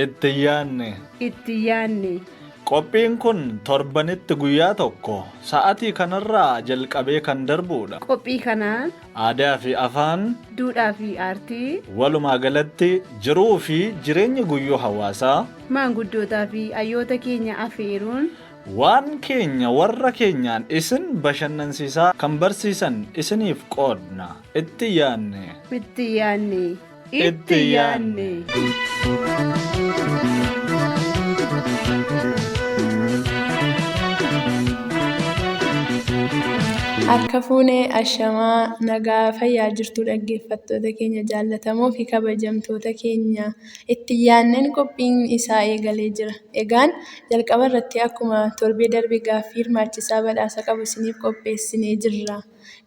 Itti yaanne. Itti yaanne. Qophiin kun torbanitti guyyaa tokko sa'atii kanarraa jalqabee kan darbuudha. Qophii kana. Aadaa fi afaan. Duudhaa fi aartii. Walumaa galatti jiruu fi jireenya guyyuu hawaasaa. Maanguddootaa fi hayyoota keenya afeeruun. Waan keenya warra keenyaan isin bashannansiisaa kan barsiisan isiniif qoodna. Itti yaanne. Itti yaanne. Itti yaanne. Harka fuunee ashamaa nagaa fayyaa jirtuu dhaggeeffattoota keenya jaallatamoo fi kabajamtoota keenya. itti yaadneen qophiin isaa eegalee jira. Egaan jalqaba irratti akkuma torbee darbe gaaffii hirmaachisaa badhaasa qabu isiniif qopheessinee jirra.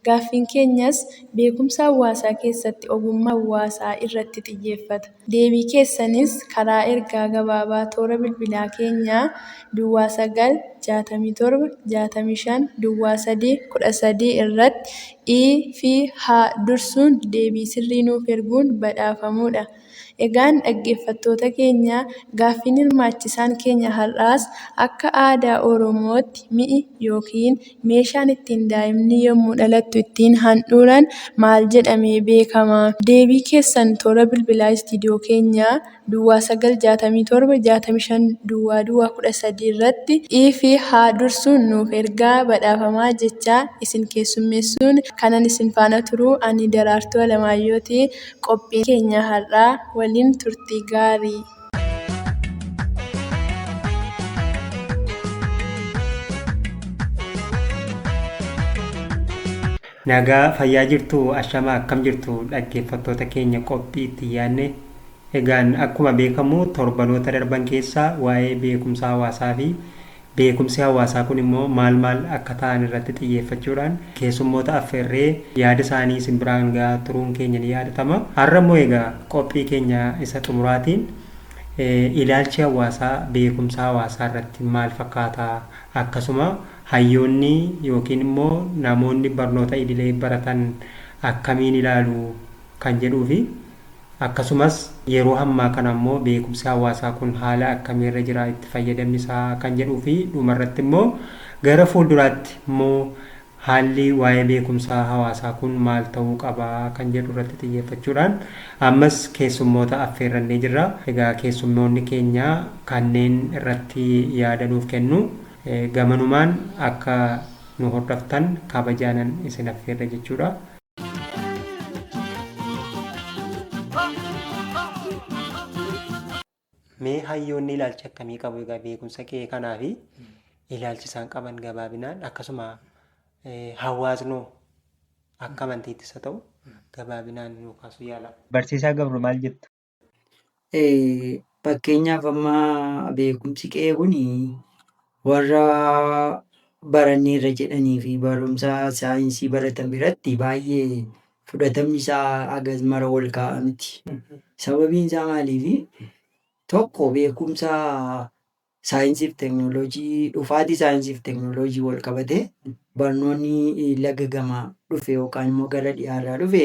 Gaaffiin keenyas beekumsa hawaasaa keessatti ogummaa hawaasaa irratti xiyyeeffata. Deebii keessanis karaa ergaa gabaabaa toora bilbilaa keenya duwwaa 9 67 65 duwwaa 3 13 irratti i fi h dursuun deebii sirrii nuuf erguun badhaafamuudha. Egaan dhaggeeffattoota keenya gaaffiin hirmaachisaan keenya har'aas akka aadaa Oromootti mi'i ykn meeshaan ittiin daa'imni yommuu dhalattu ittiin handhuuran maal jedhamee beekama? Deebii keessan toora bilbilaa istiidiyoo keenyaa Duwwaa 9 67 65 Duwwaa Duwwaa 13 irratti iv haa dursuun nuuf ergaa badhaafamaa jechaa isin keessummeessuun kanan isin faana turu ani Daraartuu Alamaayyooti. qophii keenya har'aa waliin turtii gaarii. Nagaa fayyaa jirtuu ashamaa akkam jirtu dhaggeeffattoota keenya qophii itti yaadne egaan akkuma beekamu torbanoota darban keessaa waa'ee beekumsa hawaasaa fi Beekumsi hawaasaa kun immoo maal maal akka ta'an irratti xiyyeeffachuudhaan keessummoota affeerree yaada isaanii isin biraan ga'aa turuun keenya ni yaadatama. Har'a immoo egaa qophii keenya isa xumuraatiin ilaalchi hawaasaa beekumsa hawaasaa irratti maal fakkaata? Akkasuma hayyoonni yookiin immoo namoonni barnoota idilee baratan akkamiin ilaalu? kan jedhuufi. Akkasumas, yeroo hammaa kana immoo beekumsi hawaasaa kun haala akkamii irra jira, itti fayyadamni isaa kan jedhuu fi dhuma irratti immoo gara fuulduraatti immoo haalli waa'ee beekumsa hawaasaa kun maal ta'uu qaba kan jedhu irratti xiyyeeffachuudhaan ammas keessummoota affeerrannee jirra. Egaa keessummoonni keenya kanneen irratti yaada nuuf kennu. Gamanumaan akka nu hordoftan kabajaanan isin affeerra jechuudha. Mee hayyoonni ilaalcha akkamii qabu egaa beekumsa qe'ee kanaa fi ilaalchi isaan qaban gabaabinaan akkasuma eh, hawaasnoo akka amantiittis haa ta'u gabaabinaan nuu kaasuu yaala. Barsiisaa Gabru maal jettu? Fakkeenyaaf amma beekumsi qe'ee kun warra baranneerra jedhanii fi barumsa saayinsii baratan biratti baay'ee fudhatamni isaa hagas mara ol ka'aa miti. Sababiin isaa maaliifi? Tokko beekumsa saayinsii fi teeknooloojii dhufaatii saayinsii fi teeknooloojiin wal qabatee barnoonni laga gamaa dhufe yookaan immoo gara dhiyaarraa dhufe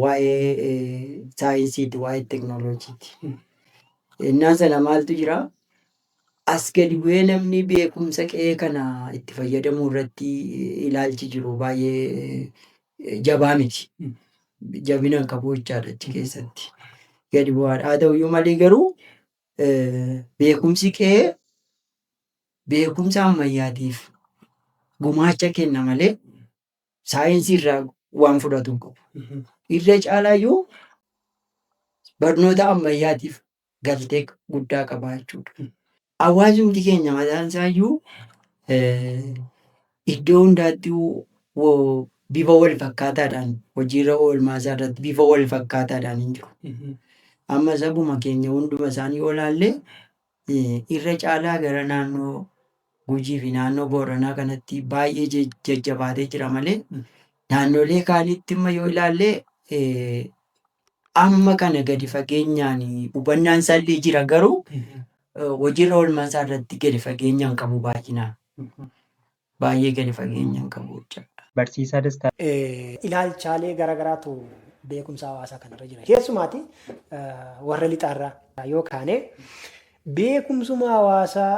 waa'ee saayinsiiti, waa'ee teknooloojiiti. Ennaa sana maaltu jira? As gadi bu'ee namni beekumsa qe'ee kana itti fayyadamuu irratti ilaalchi jiru baay'ee jabaa miti. Jabina hin qabu jechaadha achi keessatti. Gadi bu'aadha. Haa ta'uyyuu malee garuu beekumsi qe'ee beekumsa ammayyaatiif gumaacha kenna malee saayinsii irraa waan fudhatu hin qabu. Irra caalaa iyyuu barnoota ammayyaatiif galtee guddaa qaba jechuudha. Hawaasumti keenya mataan isaa iyyuu eh, iddoo hundaatti wo- bifa wal fakkaataadhaan hojiirra oolmaa isaa irratti bifa wal fakkaataadhaan hin jiru. Amma sabuma keenya hunduma isaanii olaallee irra caalaa gara naannoo Gujii fi naannoo Booranaa kanatti baay'ee je- jajjabaatee jira malee naannolee kaanitti imma yoo ilaalle eh, amma kana gadi fageenyaan hubannaan isaallee jira garuu eh, hojiirra oolmaa isaa irratti gadi fageenyaan qabu baay'inaan. Baay'ee gadi fageenyan kan hojjedha. Barsiisaa Dastaa. Ilaalchaalee gara garaatu beekumsa hawaasaa kanarra jira. Keessumaati warra lixaarraa yoo kaane beekumsuma hawaasaa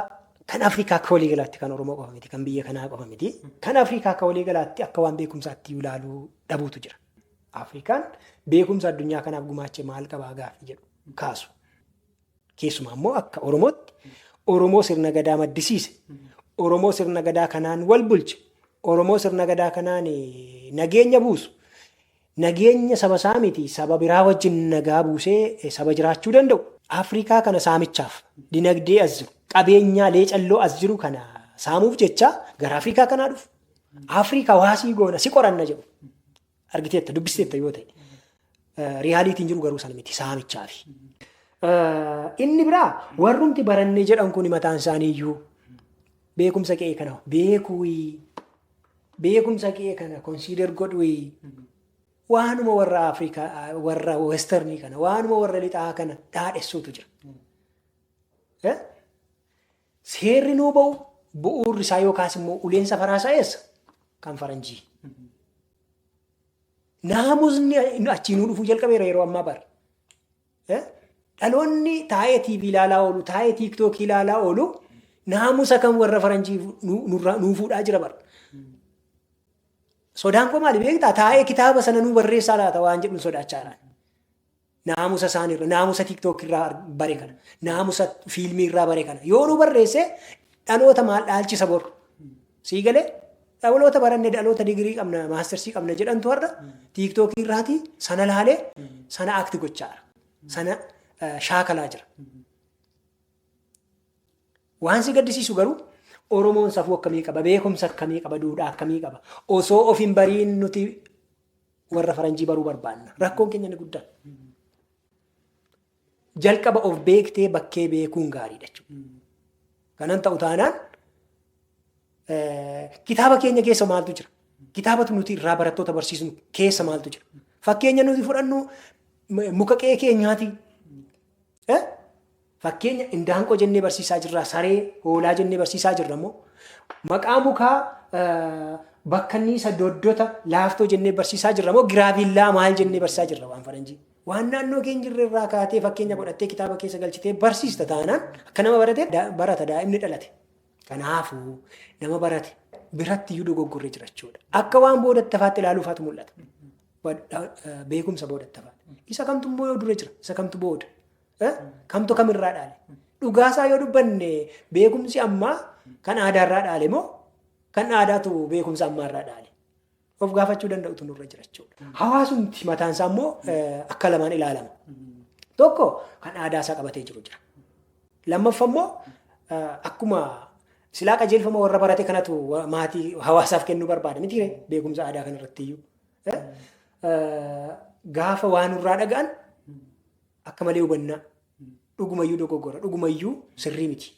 kan Afrikaa akka walii galaatti kan Oromoo qofa miti, kan biyya kanaa qofa miti. Kan Afrikaa akka walii galaatti akka waan beekumsaatti iyyuu ilaaluu dhabuutu jira. Afrikaan beekumsa addunyaa kanaaf gumaache maal qabaa gaaffii jedhu kaasu. Keessumaa immoo akka Oromootti Oromoo sirna gadaa maddisiise, Oromoo sirna gadaa kanaan wal bulche, Oromoo sirna gadaa kanaan nageenya buusu, nageenya saba isaa miti saba biraa wajjin nagaa buusee saba jiraachuu danda'u. Afrikaa kana saamichaaf dinagdee as jiru, qabeenyaa leecalloo as jiru kana saamuuf jecha gara Afrikaa kanaa dhufu. Afrikaa waasii goona si qoranna jedhu. argiteetta dubbisteetta yoo ta'e riyaaliitiin jiru garuu sana miti saamichaa fi. Inni biraa warrumti barannee jedhan kun mataan isaanii iyyuu beekumsa qe'ee kana beekuuyi beekumsa qe'ee kana konsiidar godhuuyi waanuma warra Afrikaa warra westernii kana waanuma warra lixaa kana dhaadhessuutu jira. Seerri nuu ba'u bu'uurri isaa yookaas immoo uleen safaraa isaa eessa? Kan faranjii. Naamusni achii nuu dhufuu jalqabeera yeroo ammaa bara. Eh? Dhaloonni taa'ee TV ilaalaa oolu, taa'ee TikTok ilaalaa oolu naamusa kan warra faranjii nu- nurraa- nuu fuudhaa jira bara. Sodaan koo maali beektaa? Taa'ee kitaaba sana nuu barreessaa laata waan jedhu sodaachaa jira. Naamusa isaani irra, naamusa tiktok irraa bare kana, naamusa fiilmii irraa bare kana. Yoo nu barreesse dhaloota maal dhaalchisa bor. Sii galee dhaloota baranne dhaloota digirii qabna, maastersii qabna jedhantu har'a tiktok irraati sana laalee sana akti gochaa jira. Sana eh, shaakalaa jira. Waan si gaddisiisu garuu Oromoon safuu akkamii qaba, beekumsa akkamii qaba, duudhaa akkamii qaba. Osoo of hin bariin nuti warra faranjii baruu barbaanna. Rakkoon keenya inni guddaan. Jalqaba of beektee bakkee beekuun gaariidha jechuudha. Kanan ta'u taanaan eh, kitaaba keenya keessa maaltu jira? Kitaabatu nuti irraa barattoota barsiisnu keessa maaltu jira? Fakkeenya nuti fudhannu m- muka qe'ee keenyaati. E. Fakkeenya indaanqoo jennee barsiisaa jirra, saree, hoolaa jennee barsiisaa jirra moo? Maqaa mukaa bakka inni isa doddota laaftoo jennee barsiisaa jirra moo giraavillaa maal jennee barsiisaa jirra waan faranjii? Waan naannoo keenya jirre irraa kaatee fakkeenya godhattee kitaaba keessa galchitee barsiista taanaan akka nama barate barata daa'imni dhalate. Kanaafuu nama barate biratti iyyuu dogoggorree jirachuudha. Akka waan booda tafaatti ilaaluufaatu mul'ata. beekumsa boodatti hafaadha. Isa kamtu immoo yoo dura jira, isa kamtu booda. Kamtu kamirraa dhaale. Dhugaasaa yoo dubbanne beekumsi ammaa kan aadaarraa dhaale moo kan aadaatu beekumsa ammaarraa dhaale. Of gaafachuu danda'utu nurra jira jechuudha. Hawaasumti mataansaa immoo akka lamaan ilaalama. Tokko kan aadaasaa qabatee jiru jira. Lammaffa immoo akkuma silaa qajeelfama warra barate kanatu maatii hawaasaaf kennuu barbaada miti beekumsa aadaa kanarratti iyyuu. Eh, eh, Gaafa waa nurraa dhaga'an akka malee hubannaa. Dhugumayyuu dogoggora. Dhugumayyuu sirrii miti.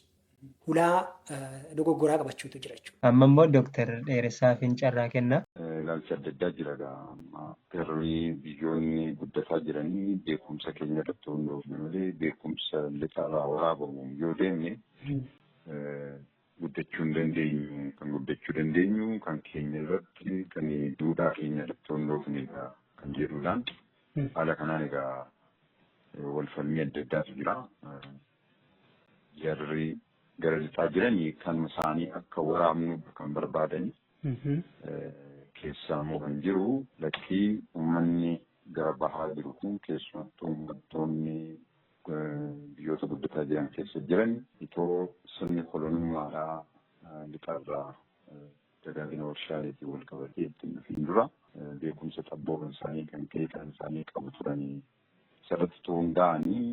Hulaa eh, dogoggoraa qabachuutu jira jechuudha. Amma immoo Dooktar Dheeressaafin carraa kenna. ilaalchi adda addaa jira egaa amma garri biyyoonni guddataa jiranii beekumsa keenya irratti hundoofne malee beekumsa lixarraa waraabamu yoo deemne eh, guddachuu hin dandeenyu. Kan guddachuu dandeenyu kan keenya irratti kan duudhaa keenya irratti hundoofnedha kan jedhudha. Haala kanaan egaa wal falmii adda addaatu jira. Jarri gara lixaa jiran kan isaanii akka waraabnu kan barbaadan keessaa immoo kan jiru lakkii uummanni gara bahaa jiru kun keessumattuu uummattoonni biyyoota guddataa jiran keessa jiran itoo sirni kolonummaadhaa lixarraa dagaagina warshaaleetiin wal qabatee ittiin dhufiin dura beekumsa xabbooma isaanii kan ka'e kan isaanii qabu turanii isarratti itoo hundaa'anii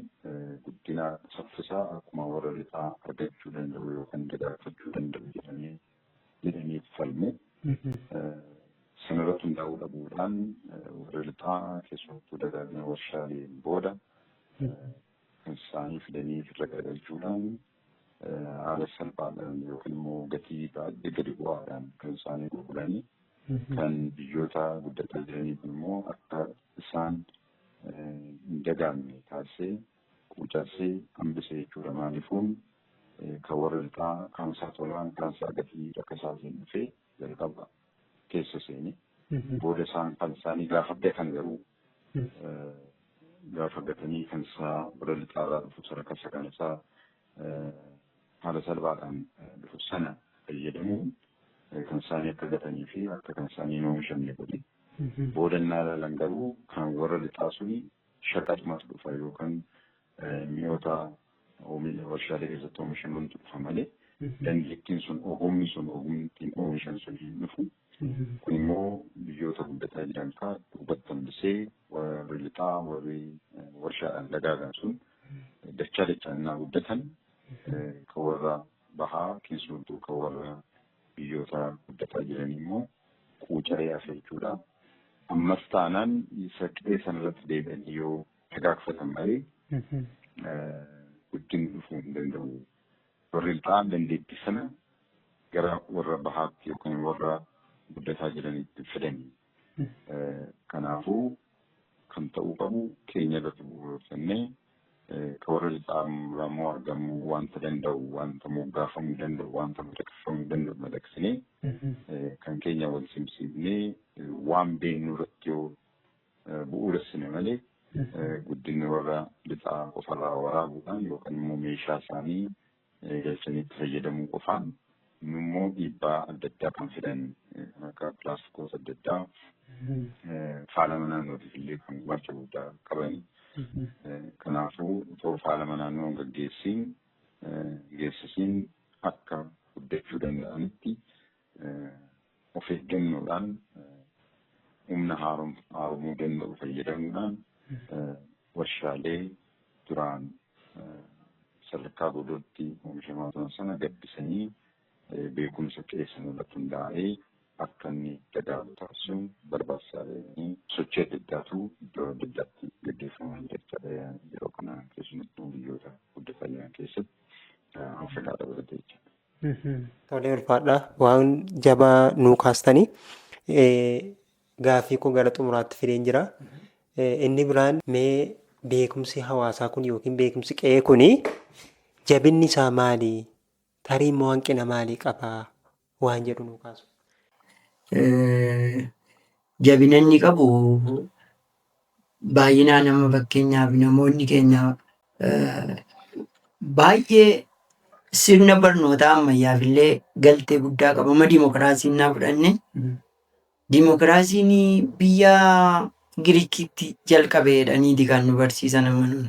guddina saffisaa akkuma warra lixaa argachuu danda'u yookaan dagaagfachuu danda'u jedhamee jedhanii falmu. Sanarratti hundaa'uu dhabuudhaan warri lixaa keessumattuu dagaagina warshaaleen booda kan isaanii fidanii irra garagalchuudhaan haala salphaadhaan yookiin immoo gatii baay'ee gadi bu'aadhaan kan isaanii gurguranii kan biyyoota guddataa jiraniif immoo akka isaan hin dagaamne taasisee quucarsee hambise jechuudha. Maaliifuu kan warra lixaa kan isaa tolaan kan isaa gatii akka isaatiin dhufee jalqaba keessa seene. Booda isaan kan isaanii gaafa argatan garuu gaafa argatanii kan isaa warra lixaa irraa dhufu sadarkaa isa kan isaa haala salphaadhaan dhufu sana fayyadamuun kan isaanii akka gatanii fi akka kan isaanii hin oomishamne godhe. Booda innaa ilaalan garuu kan warra lixaa suni shaqaxumatu dhufa yookaan mi'oota warshaalee keessatti oomishamantu dhufa malee dandeettiin sun ogumni sun ogumni ittiin oomishan sun hin dhufu. Kun immoo biyyoota guddataa jiran kaa duubatti hambisee warri lixaa warri warshaadhaan dagaagan sun dachaa dachaan innaa guddatan kan warra bahaa keessumattuu kan warra Biyyoota guddataa jiran immoo quucaree hafe jechuudha. Ammas taanaan isa qe'ee sana irratti deebi'anii yoo dagaagfatan malee guddinni dhufuu hin danda'u. Warri lixaan dandeettii sana gara warra bahaatti yookiin warra guddataa jiranitti fidanii. Kanaafuu kan ta'uu qabu keenya irratti bu'uureffannee kan warra lixaa irraa immoo argamuu wanta danda'u wanta moggaafamuu danda'u wanta madaqfamuu danda'u madaqsinee kan keenya wal simsiifnee waan beeknu irratti yoo bu'uuressine malee guddinni warra lixaa qofarraa waraabuudhaan yookaan immoo meeshaa isaanii galchanii itti fayyadamuu qofaan immoo dhiibbaa adda addaa kan fidan kan akka pilaastikoota adda addaa faalama naannootiif illee kan gumaacha guddaa qabani. Kanaafuu otoo faalama naannoo gaggeessiin geessisiin akka guddachuu danda'anitti of eeggannoodhaan humna haaromuu danda'u fayyadamuudhaan warshaalee duraan sadarkaa godootti oomishamaa turan sana gabbisanii beekumsa qeessan irratti hundaa'ee akka inni dagaagu taasisuun barbaachisaa ta'anii sochii adda addaatu iddoo adda addaatti gaggeeffamaa jira jechaadha yeroo kana keessumattuu biyyoota guddatan jiran keessatti Afrikaa dabalatee jechaadha. Tolee ulfaadha waan jabaa nuu kaastanii gaaffii koo gara xumuraatti fideen jira. Inni biraan mee beekumsi hawaasaa kun yookiin beekumsi qe'ee kun jabinni isaa maali? Tarii immoo hanqina maalii qaba? Waan jedhu nuu kaasu. Jabina inni qabu Baay'inaan amma fakkeenyaaf namoonni keenya baay'ee sirna barnootaa ammayyaaf illee galtee guddaa qaba. Amma dimokiraasii naa fudhanne dimokiraasiin biyya Giriikitti jalqabe jedhaniiti kan nu barsiisan amma nuun.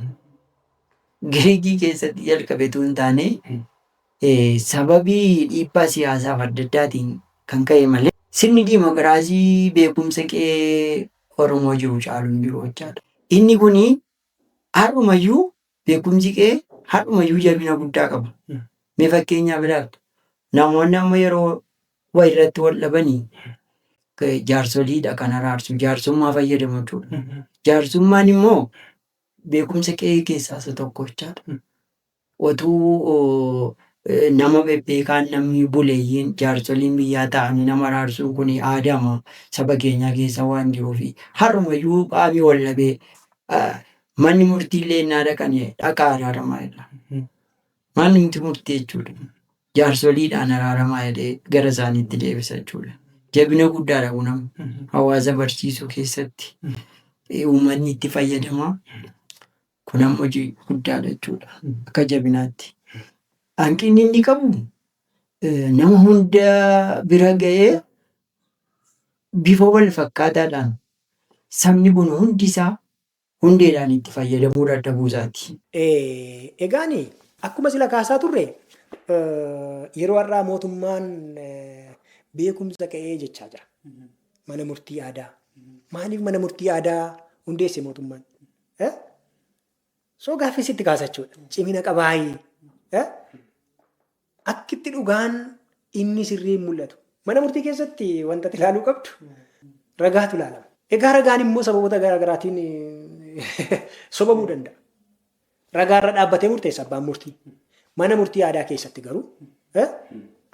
Giriikii keessatti jalqabe utuu hin taane eh, sababii dhiibbaa siyaasaaf adda addaatiin kan ka'e malee sirni dimokiraasii beekumsa kee Oromoo jiru caalu hin jiru jechaadha. Inni kun har'umayyuu beekumsi kee har'umayyuu jabina guddaa qaba. Mee fakkeenyaaf ilaaltu namoonni amma yeroo wayirratti wal dhabanii k- jaarsoliidha kan araarsu jaarsummaa fayyadamu jechuudha. Jaarsummaan immoo beekumsa qe'ee keessaa isa tokko jechaadha. Otuu nama bebbeekaan namni buleeyyiin, jaarsoliin biyyaa taa'anii nama araarsuun kuni aadaama saba keenyaa keessa waan jiruufi. Har'umayyuu qaami wal dhabee manni murtiillee ennaa dhaqan dhaqaa araaramaa jedha. Manumti murtii jechuudha. Jaarsoliidhaan araaramaa jedhee gara isaaniitti deebisa jechuudha. Jabina guddaadha kun amma hawaasa barsiisuu keessatti uummanni itti fayyadama. Kun amma hojii guddaadha jechuudha. Akka jabinaatti. Hanqinni inni qabu nama hunda bira ga'ee bifa wal fakkaataadhaan sabni kun hundi isaa hundeedhaan itti fayyadamuu dadhabuu isaati. Egaan akkuma sila kaasaa turre yeroo har'aa mootummaan beekumsa ka'ee jechaa jira. Mana murtii aadaa. Maaliif mana murtii aadaa hundeesse mootummaan? Eh? So gaaffii sitti kaasa jechuudha. Cimina qabaayii. Eh? Akkitti dhugaan inni sirrii hin mul'atu. Mana murtii keessatti wanta ilaaluu qabdu ragaatu ilaalama. Egaa ragaan immoo sababoota garaa garaatiin eh, sobamuu danda'a. Ragaa irra dhaabbatee murteessa abbaan murtii. Mana murtii aadaa keessatti garuu eh,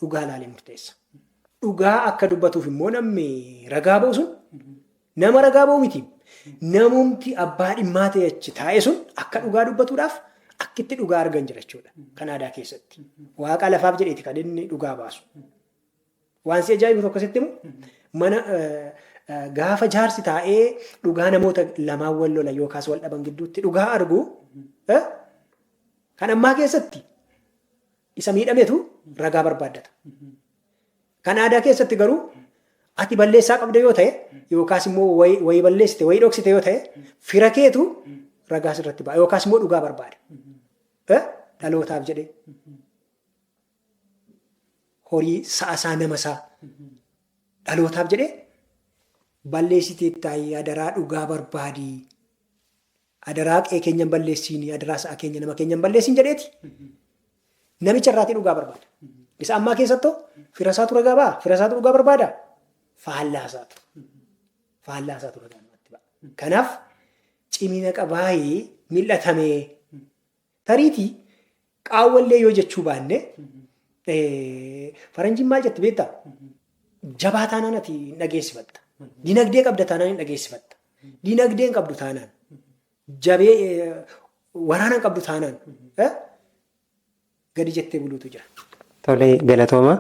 dhugaa ilaalee murteessa. Dhugaa akka dubbatuuf immoo namni ragaa ba'u sun Nama ragaa ba'u miti. Namumti abbaa dhimmaa ta'e achi taa'e sun akka dhugaa dubbatuudhaaf akkitti dhugaa argan jira jechuudha. Kan aadaa keessatti. Waaqa lafaaf jedheeti kan inni dhugaa baasu. Waan si ajaa'ibu tokko sitti himu mana gaafa jaarsi taa'ee dhugaa namoota lamaan wal lola yookaas wal dhaban gidduutti dhugaa argu kan ammaa keessatti isa miidhametu ragaa barbaaddata. Kan aadaa keessatti garuu ati balleessaa qabda yoo ta'e yookaas immoo wayi wayi balleessite wayi dhoksite yoo ta'e fira keetu ragaas irratti ba'a yookaas immoo dhugaa barbaada. Eh? Dhalootaaf jedhee horii sa'a isaa nama isaa dhalootaaf jedhee balleessitee taa'ii adaraa dhugaa barbaadii Adaraa qe'ee keenya hin balleessiini, adaraa sa'a keenya nama keenya hin balleessiin jedheeti. Namicha irraatii dhugaa barbaada. Isa ammaa keessattoo firasaatu ragaa ba'a, firasaatu dhugaa barbaada. Faallaasaatu. Faallaasaatu ragaa namatti ba'a. Kanaaf cimina qabaayee mil'atamee Tariitii qaawwallee yoo jechuu baanne faranjiin maal jette beektaa? Jabaa taanaan ati hin dhageessifatta. Dinagdee qabda taanaan hin dhageessifatta. Dinagdee hin qabdu taanaan jabee waraana hin qabdu taanaan gadi jettee buluutu jira. Tole galatooma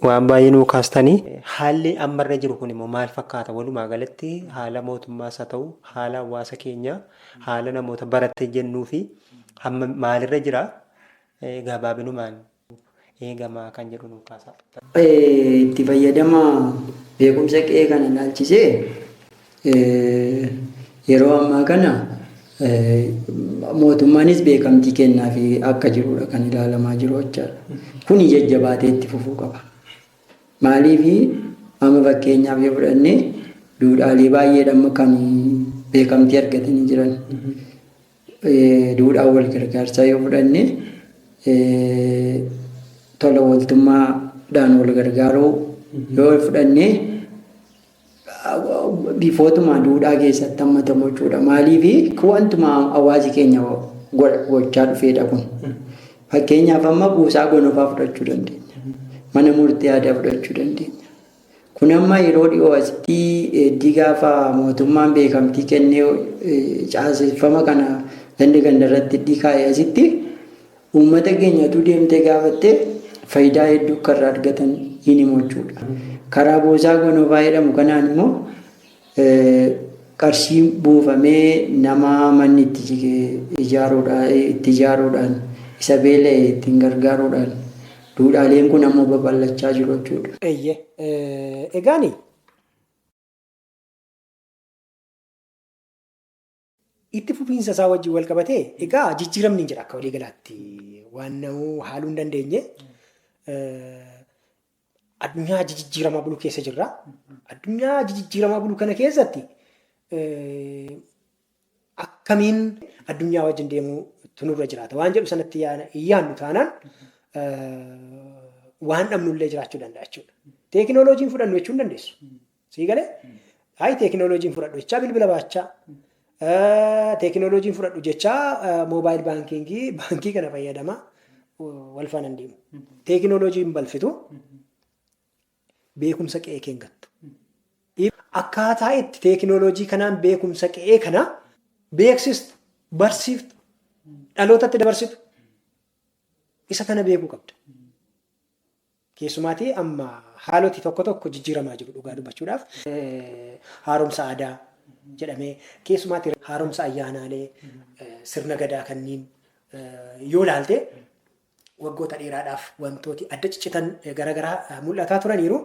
waan baay'ee nuu kaastani. Haalli amma irra jiru kun immoo maal fakkaata walumaa galatti haala mootummaas haa ta'u haala hawaasa keenyaa haala namoota baratte jennuu fi amma maalirra jira gabaabinumaan eegamaa kan jedhu nuu kaasaa. Itti fayyadama beekumsa qe'ee kana ilaalchisee Yeroo ammaa kana mootummaanis beekamtii kennaafi akka jirudha kan ilaalamaa jiru jechaadha. Kuni jajjabaatee itti fufuu qaba. Maaliif amma fakkeenyaaf yoo fudhanne duudhaalee baay'eedhaan kan beekamtii argatanii jiran. Duudhaa wal gargaarsaa yoo fudhanne tola ooltummaadhaan wal gargaaruu yoo fudhanne bifootumaa duudhaa keessatti hammatamu jechuudha. Maaliif wantuma hawaasi keenya gochaa dhufeedha kun. Fakkeenyaaf amma buusaa gonofaa fudhachuu dandeenya. Mana murtii aadaa fudhachuu dandeenya. Kun amma yeroo dhiyoo asitti heddii gaafa mootummaan beekamtii kennee caaseffama kana ganda ganda irratti heddii kaa'ee asitti Uummata keenya utuu deemtee gaafattee fayidaa hedduu akka irraa argatan hin himu jechuudha. Karaa Boosaa Gonofaa jedhamu kanaan immoo qarshii buufamee nama manni itti jige itti ijaaruudhaan, isa beela'e ittiin gargaaruudhaan duudhaaleen kun ammoo babal'achaa jiru jechuudha. Eeyyee. Egaa ani. Itti fufiinsa isaa wajjin wal qabatee egaa jijjiiramni hin jira akka walii galaatti waan na'uu haaluu hin dandeenye. Addunyaa jijjiiramaa bulu keessa jirra. Addunyaa jijjiiramaa bulu kana keessatti akkamiin addunyaa wajjin deemuu tunurra jiraata waan jedhu sanatti yaannu taanaan waan dhabnullee jiraachuu danda'a jechuudha. Teekinooloojiin fudhannu jechuu hin dandeessu. Sii galee hayi teekinooloojiin fudhadhu jechaa bilbila baachaa. Teekinooloojiin fudhadhu jechaa moobaayil baankiingii baankii kana fayyadama wal faana hin deemu. Teekinooloojiin balfitu beekumsa qe'ee kee hin gattu. Akkaataa itti teekinooloojii kanaan beekumsa qe'ee kana beeksistu, barsiiftu, dhalootatti dabarsitu isa kana beekuu qabda. Keessumaatii amma haaloti tokko tokko jijjiiramaa jiru dhugaa dubbachuudhaaf. Haaromsa aadaa jedhamee keessumaatii haaromsa ayyaanaalee sirna gadaa kanniin yoo ilaalte waggoota dheeraadhaaf wantooti adda ciccitan garaagaraa mul'ataa turaniiru.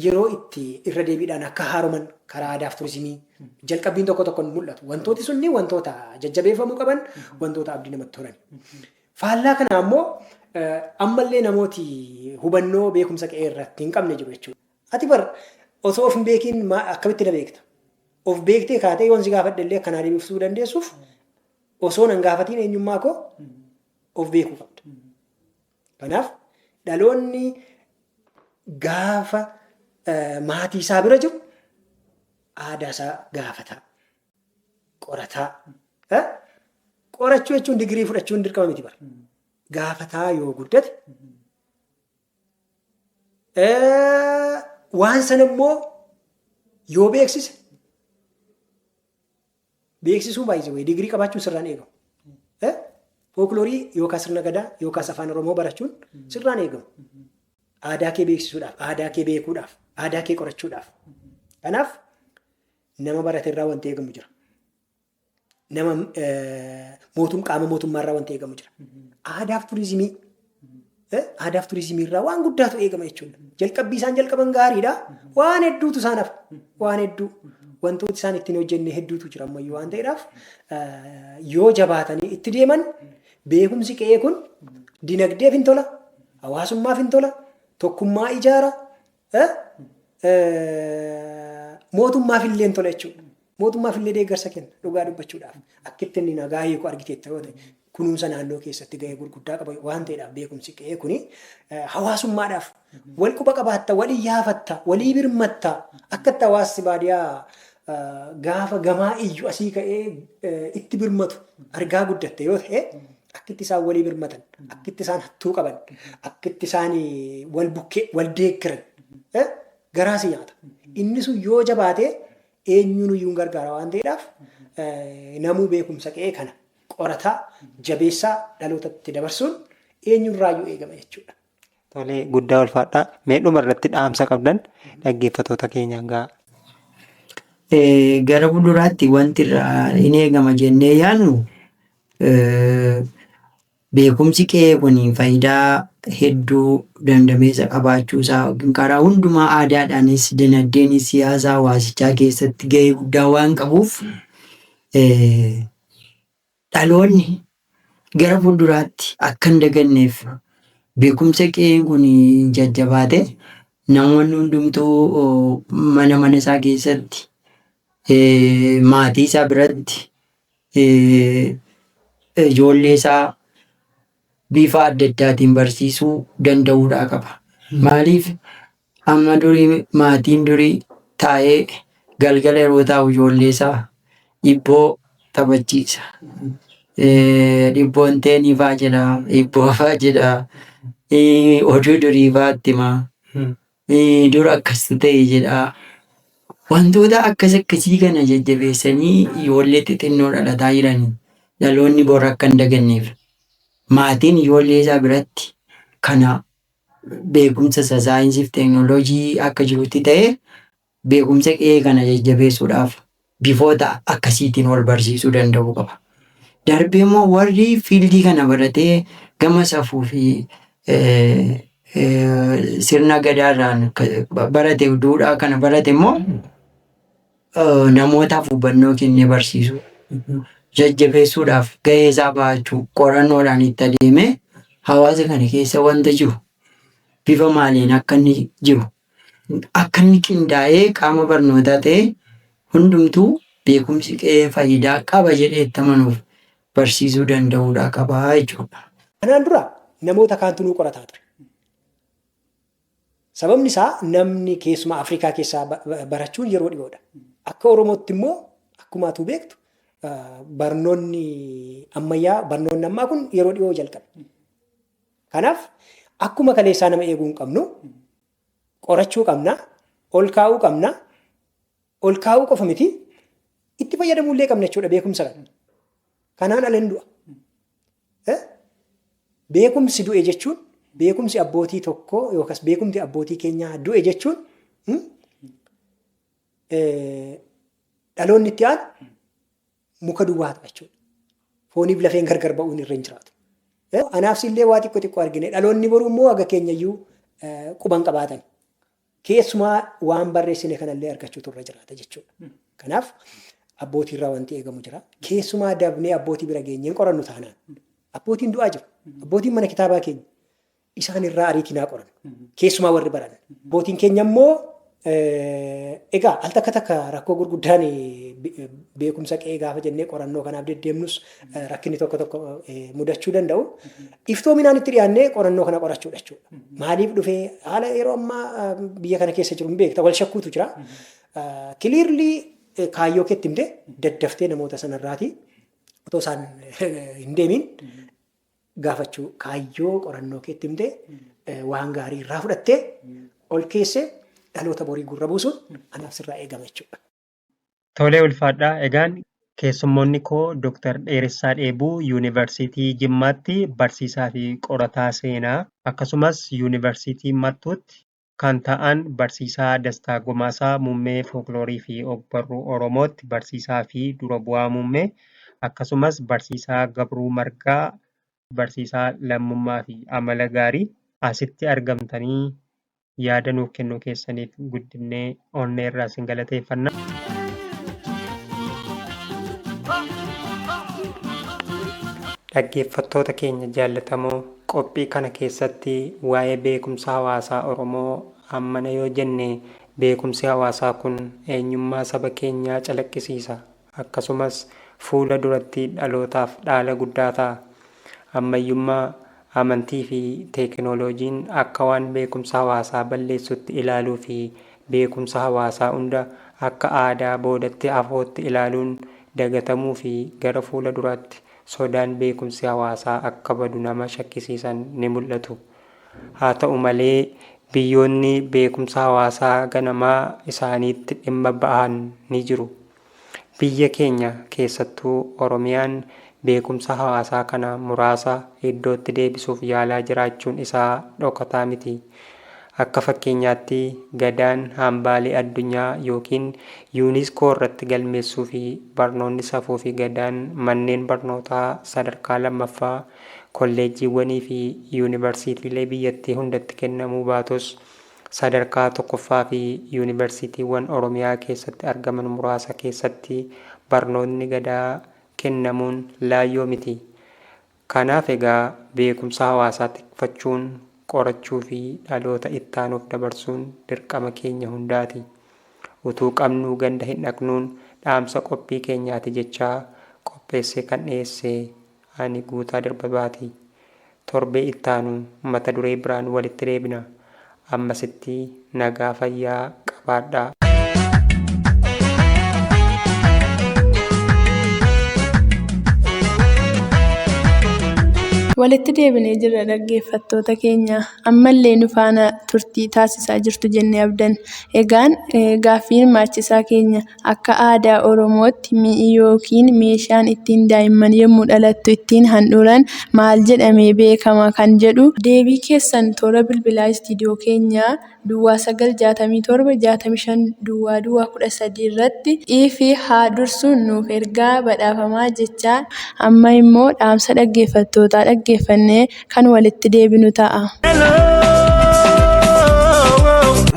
Yeroo itti irra deebiidhaan akka haaroman karaa aadaaf turizimii jalqabbiin tokko tokko mul'atu. Wantooti sunni wantoota jajjabeeffamuu qaban wantoota abdii namatti horan. Faallaa kanaa immoo ammallee namooti hubannoo beekumsa qe'ee irratti hin qabne jiru jechuudha. Ati bar osoo of hin beekiin akkamitti na beekta? Of beektee kaatee yoon si gaafadhe illee akkanaa deebifsuu dandeessuuf osoo nan gaafatiin eenyummaa koo of beekuu qabda. Kanaaf dhaloonni gaafa maatii isaa bira jiru aadaa isaa gaafataa. qorataa. Eh? Qorachuu jechuun digirii fudhachuun dirqama miti bara. Gaafataa yoo guddate eh, waan sana immoo yoo beeksise beeksisuun baay'ise wayii digirii qabaachuun sirraan eegamu. Eh? Fookiloorii yookaas sirna gadaa yookaas afaan oromoo barachuun sirraan eegamu. Aadaa kee beeksisuudhaaf, aadaa kee beekuudhaaf, aadaa kee qorachuudhaaf. Kanaaf Nama barate irraa wanti eegamu jira. Nama mootum qaama mootummaa irraa wanti eegamu jira. Aadaaf turizimii aadaaf turizimii irraa waan guddaatu eegama jechuudha. Jalqabbii isaan jalqaban gaariidha. Waan hedduutu isaan hafa. Waan hedduu wantooti isaan ittiin hojjenne hedduutu jira ammayyuu waan ta'eedhaaf yoo jabaatanii itti deeman beekumsi qe'ee kun dinagdeef hin tola, hawaasummaaf hin tola, tokkummaa ijaara, mootummaaf illee hin tola jechuudha. Mootummaaf illee deeggarsa kenna dhugaa dubbachuudhaaf. Akka itti inni nagaa hiiku argiteetta yoo ta'e kunuunsa naannoo keessatti gahee gurguddaa qaba waan ta'eedhaaf beekumsi qe'ee kuni hawaasummaadhaaf wal quba qabaatta, wal iyyaafatta, walii birmatta akka itti hawaasni baadiyaa gaafa gamaa iyyu asii ka'ee itti birmatu argaa guddatte yoo ta'e akkitti isaan walii birmatan, akkitti isaan hattuu qaban, akkitti isaan wal bukkee wal deeggiran eh, garaa si nyaata. Inni sun yoo jabaate eenyuun iyyuu hin gargaara waan ta'eedhaaf eh, namuu beekumsa qe'ee kana qorataa jabeessaa dhalootatti dabarsuun eenyurraayyuu eegama jechuudha. Tolee guddaa ulfaadhaa. Mee dhuma irratti dhaamsa qabdan dhaggeeffatoota keenyaan ga'a. Eh, gara fuulduraatti wanti irraa hin eegama jennee yaadnu Beekumsi qe'ee kun faayidaa hedduu dandameessa qabaachuu isaa yookiin karaa hundumaa aadaadhaanis, dinagdeenis, siyaasa hawaasichaa keessatti gahee guddaa waan qabuuf dhaloonni gara fuulduraatti akka hin daganneef beekumsa qe'een kun jajjabaate namoonni hundumtuu mana mana isaa keessatti maatii isaa biratti ijoollee isaa bifa adda addaatiin barsiisuu danda'uudhaa qaba. Maaliif amma durii maatiin durii taa'ee galgala yeroo taa'u ijoollee isaa dhibboo taphachiisa. Eh, Dhibboon teenii faa jedha, dhibboo faa jedha, eh, oduu durii faa itti hima. Mee dur akkas ta'e jedhaa. Wantoota akkas akkasii kana jajjabeessanii ijoollee xixinnoo dhalataa jiraniif dhaloonni bor akka hin daganneef maatiin ijoollee isaa biratti kana beekumsa isa saayinsii fi teeknooloojii akka jirutti ta'ee Beekumsa qe'ee kana jajjabeessuudhaaf bifoota akkasiitiin wal barsiisuu danda'uu qaba. Darbee immoo warri fiildii kana baratee gama safuu fi sirna gadaa irraan barate duudhaa kana barate immoo namootaaf hubannoo kennee barsiisuu jajjabeessuudhaaf gahee isaa bahachuu qorannoodhaan itti adeemee hawaasa kana keessa wanta jiru bifa maaliin akka inni jiru Akka inni qindaa'ee qaama barnootaa ta'e hundumtuu beekumsi qe'ee faayidaa qaba jedhee itti amanuuf barsiisuu danda'uudhaa qaba jechuudha. Kanaan dura namoota kaantu nu qorataa ture. Sababni isaa namni keessumaa Afrikaa keessaa barachuun yeroo dhiyoodha. Akka Oromootti immoo akkuma atuu beektu barnoonni ammayyaa barnoonni ammaa kun yeroo dhiyoo jalqabe. Kanaaf akkuma kaleessaa nama eeguu hin qabnu qorachuu qabna, ol kaa'uu qabna, ol kaa'uu qofa miti itti fayyadamuu illee qabna jechuudha beekumsa kana. Kanaan ala hin du'a. Eh? Beekumsi du'e jechuun beekumsi abbootii tokkoo yookaas beekumti abbootii keenyaa du'e jechuun hmm? Eh, dhaloonni itti aanu muka duwwaa ta'a jechuudha. Fooniif lafeen gargar ba'uun irra hin jiraatu. Anaaf sillee waa xiqqoo xiqqoo argine dhaloonni boruu immoo haga keenyayyuu quban qabaatan. Keessumaa waan barreessine kanallee argachuutu irra jiraata jechuudha. Kanaaf abbootii irraa wanti eegamu jira. Keessumaa dabnee abbootii bira geenyeen qorannu taanaan. Abbootiin du'aa jiru. Abbootiin mana kitaabaa keenya. isaan irraa ariitii naa qoran. Keessumaa warri baran. Bootiin keenya immoo egaa al takka takka rakkoo gurguddaan beekumsa qe'ee gaafa jennee qorannoo kanaaf deddeemnus rakkinni tokko tokko mudachuu danda'u. Iftoominaan itti dhiyaannee qorannoo kana qorachuudha jechuudha. Maaliif dhufee haala yeroo ammaa biyya kana keessa jiru hin beekta wal shakkuutu jira. Kiliirlii kaayyoo keetti himte daddaftee namoota sanarraati otoo isaan hin deemiin gaafachuu, kaayyoo qorannoo keetti himte, waan gaarii irraa fudhattee ol keesse dhaloota borii gurra buusuun anaaf sirraa eegama jechuudha. Tole ulfaadhaa egaan keessummoonni koo Dr. Dheeressaa Dheebuu Yuunivarsiitii Jimmaatti barsiisaa fi qorataa seenaa akkasumas Yuunivarsiitii Mattuutti kan ta'an Barsiisaa Dastaa Gomaasaa Muummee Fookloorii fi Ogbarruu Oromootti barsiisaa fi dura bu'aa muummee, akkasumas Barsiisaa Gabruu Margaa Barsiisaa Lammummaa fi Amala Gaarii asitti argamtanii yaada nuuf kennuu keessaniif guddifnee onnee irraa isin galateeffanna. Dhaggeeffattoota keenya jaallatamoo, qophii kana keessatti waa'ee beekumsa hawaasaa Oromoo hammana yoo jenne, beekumsi hawaasaa kun eenyummaa saba keenyaa calaqqisiisa. akkasumas fuula duratti dhalootaaf dhaala guddaa ta'a. Ammayyummaa, amantii fi teekinooloojiin akka waan beekumsa hawaasaa balleessutti ilaaluu fi beekumsa hawaasaa hunda akka aadaa boodatti hafootti ilaaluun dagatamuu fi gara fuula duraatti sodaan beekumsi hawaasaa akka badu nama shakkisiisan ni mul'atu. Haa ta'u malee, biyyoonni beekumsa hawaasaa ganamaa isaaniitti dhimma ba'an ni jiru. Biyya keenya keessattuu Oromiyaan beekumsa hawaasaa kana muraasa iddootti deebisuuf yaalaa jiraachuun isaa dhokataa miti. Akka fakkeenyaatti Gadaan hambaalee addunyaa ykn Unesco irratti galmeessuufi barnoonni safuufi Gadaan manneen barnootaa sadarkaa lammaffaa, kolleejjiiwwaniifi yuunivarsiitiilee biyyattii hundatti kennamuu baatus, Sadarkaa tokkoffaa fi Yuunibarsiitiiwwan Oromiyaa keessatti argaman muraasa keessatti barnootni Gadaa kennamuun laayyoo miti. Kanaaf egaa beekumsa hawaasaa tikfachuun qorachuu fi dhaloota ittaanuuf dabarsuun dirqama keenya hundaati. Utuu qabnuu ganda hin dhaqnuun dhaamsa qophii keenyaati jechaa qopheessee kan dhiyeesse Ani Guutaa Dirbabati. Torbee ittaanu mata duree biraan walitti deebina. Ammasitti nagaa fayyaa qabaadhaa. Walitti deebinee jirra dhaggeeffattoota keenya. Ammallee nu faana turtii taasisaa jirtu jennee abdanna. Egaan gaaffii hirmaachisaa keenya. Akka aadaa Oromootti mi'i yookiin meeshaan ittiin daa'imman yommuu dhalattu ittiin handhuuran maal jedhamee beekama kan jedhu deebii keessan toora bilbilaa istiidiyoo keenya Duwwaa 9 67 65 Duwwaa Duwwaa 13 irratti iif haa dursuun nuuf ergaa badhaafamaa jechaa amma immoo dhaamsa dhaggeeffattootaa dhaggeeffannee kan walitti deebinu ta'a.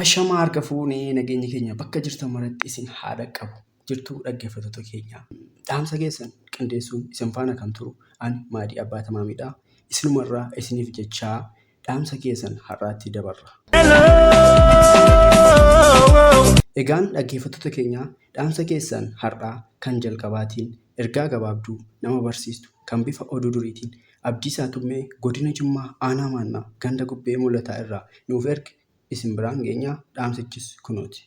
Ashamaa harka fuunee nageenyi keenya bakka jirtan maratti isin haa dhaqqabu jirtuu dhaggeeffattoota keenya. Dhaamsa keessan qindeessuun isin faana kan turu ani Maadii Abbaa Tamaamiidha. Isinumarraa isiniif jechaa dhaamsa keessan har'aatti dabarra. Egaan dhaggeeffattoota keenya dhaamsa keessan har'aa kan jalqabaatiin ergaa gabaabduu nama barsiistu kan bifa oduu duriitiin Abdiisaa Tummee Godina Jimmaa Aanaa Maannaa Ganda Gubbee Mulataa irraa nuuf erge isin biraan geenya dhaamsichis kunooti.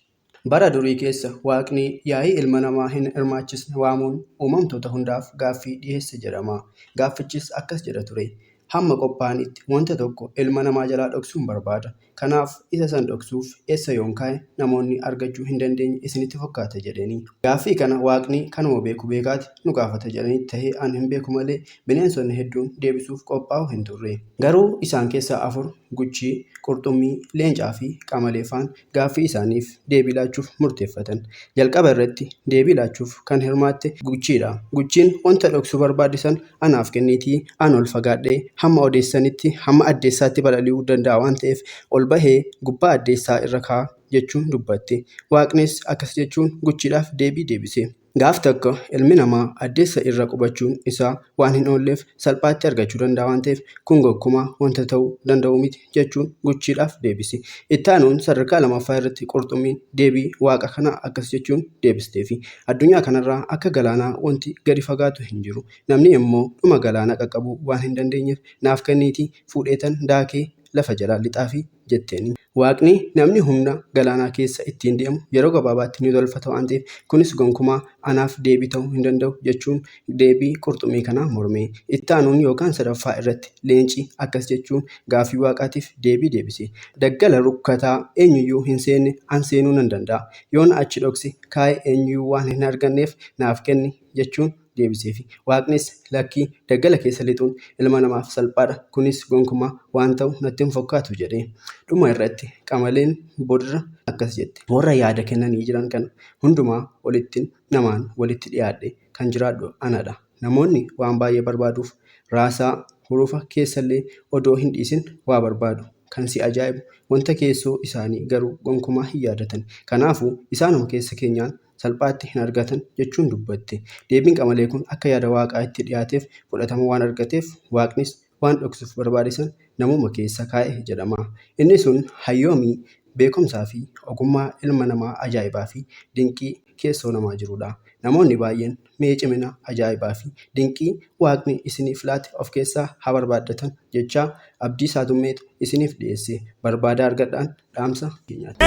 Bara durii keessa Waaqni yaa'ii ilma namaa hin hirmaachisne waamuun uumamtoota hundaaf gaaffii dhiheesse jedhama. Gaaffichis akkas jedha ture, Hamma qophaa'anitti wanta tokko ilma namaa jalaa dhoksuun barbaada. Kanaaf isa san dhoksuuf eessa yoon kaa'e namoonni argachuu hin dandeenye isinitti fakkaata? jedheni. Gaaffii kana Waaqni kanuma beeku beekaati nu gaafata jedhanii tahee an hin beeku malee bineensonni hedduun deebisuuf qophaa'oo hin turre. Garuu isaan keessaa afur, guchii, qurxummii, leencaa fi qamalee faan, gaaffii isaaniif deebii laachuuf murteeffatan. Jalqaba irratti deebii laachuuf kan hirmaatte guchiidha. Guchiin wanta dhoksuu barbaadde san anaaf kenniitii an ol fagaadhee hamma odeessanitti hamma addeessaatti balali'uu danda'a waan ta'eef ol bahee gubbaa addeessaa irra kaa jechuun dubbatte. Waaqnis akkas jechuun guchiidhaaf deebii deebise. Gaaf takka ilmi namaa addeessa irra qubachuun isaa waan hin oolleef salphaatti argachuu danda'a waan ta'eef kun gonkumaa wanta ta'uu danda'u miti. jechuun guchiidhaaf deebisi. Itti aanuun sadarkaa lamaffaa irratti qurxummiin deebii waaqa kanaa akkas jechuun deebisteefi. Addunyaa kanarraa akka galaanaa wanti gadi fagaatu hin jiru. Namni immoo dhuma galaana qaqqabuu waan hin dandeenyeef naaf kenniitii fuudheetan daakee lafa jalaa lixaafi jetteen. Waaqni namni humna galaanaa keessa ittiin deemu yeroo gabaabaatti ni tolfata waan ta'eef kunis gonkumaa anaaf deebii ta'uu hin danda'u jechuun Deebii qurxummii kanaa mormee. Itti aanuun yookaan sadaffaa irratti leenci akkas jechuun gaaffii Waaqaatiif deebii deebise, Daggala rukkataa eenyuyyuu hin seenne an seenuu nan danda'a. Yoon achi dhoksi kaa'e eenyuyyuu waan hin arganneef naaf kenni jechuun deebiseefi. Waaqnis, Lakkii, daggala keessa lixuun ilma namaaf salphaadha, kunis gonkumaa waan ta'u natti hin fokkaatu jedhe. Dhuma irratti qamaleen boodarra akkas jette. Warra yaada kennanii jiran kana hundumaa olittin namaan walitti dhiyaadhe. kan jiraadhu anadha. Namoonni waan baay'ee barbaaduuf raasaa, hurufa, keessallee odoo hin dhiisin waa barbaadu. Kan si ajaa'ibu wanta keessoo isaanii garuu gonkumaa hin yaadatani. Kanaafuu isaanuma keessa keenyaan salphaatti hin argatan jechuun dubbatte. Deebiin Qamalee kun akka yaada Waaqaa itti dhiyaateef fudhatama waan argateef Waaqnis waan dhoksuuf barbaade san namuma keessa kaa'e jedhama. Inni sun hayyoomii, beekumsaa fi ogummaa ilma namaa ajaa'ibaa fi dinqii keessoo namaa jiruudha. Namoonni baay'een mee cimina, ajaa'ibaa fi dinqii Waaqni isiniif laate of keessaa haa barbaaddatan jechaa Abdiisaa Tummeetu isiniif dhiyeesse. Barbaadaa argadhaan! dhaamsa keenyaati.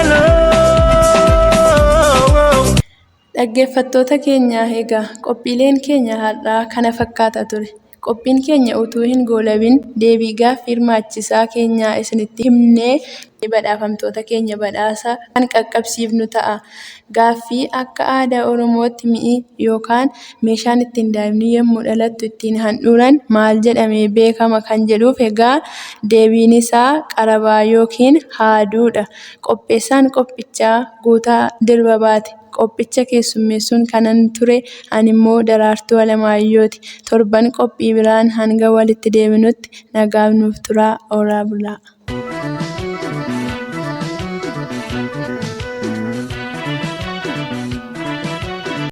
Dhaggeeffattoota keenya egaa qophiileen keenya har'aa kana fakkaata ture. Qophiin keenya utuu hin goolabin deebii gaaffii hirmaachisaa keenyaa isinitti himnee badhaafamtoota keenya badhaasa kan qaqqabsiifnu ta'a. Gaaffii akka aadaa Oromootti mi'i yookaan meeshaan ittiin daa'imni yommuu dhalattu ittiin handhuuran maal jedhamee beekama kan jedhuuf egaa deebiin isaa qarabaa yookiin haaduudha. Qopheessaan qophichaa Guutaa Dirbabaati. Qophicha keessummeessuun kanan ture animmoo Daraartuu Alamaayyooti. Torban qophii biraan hanga walitti deebinutti nagaan nuuf turaa horaa bulaa.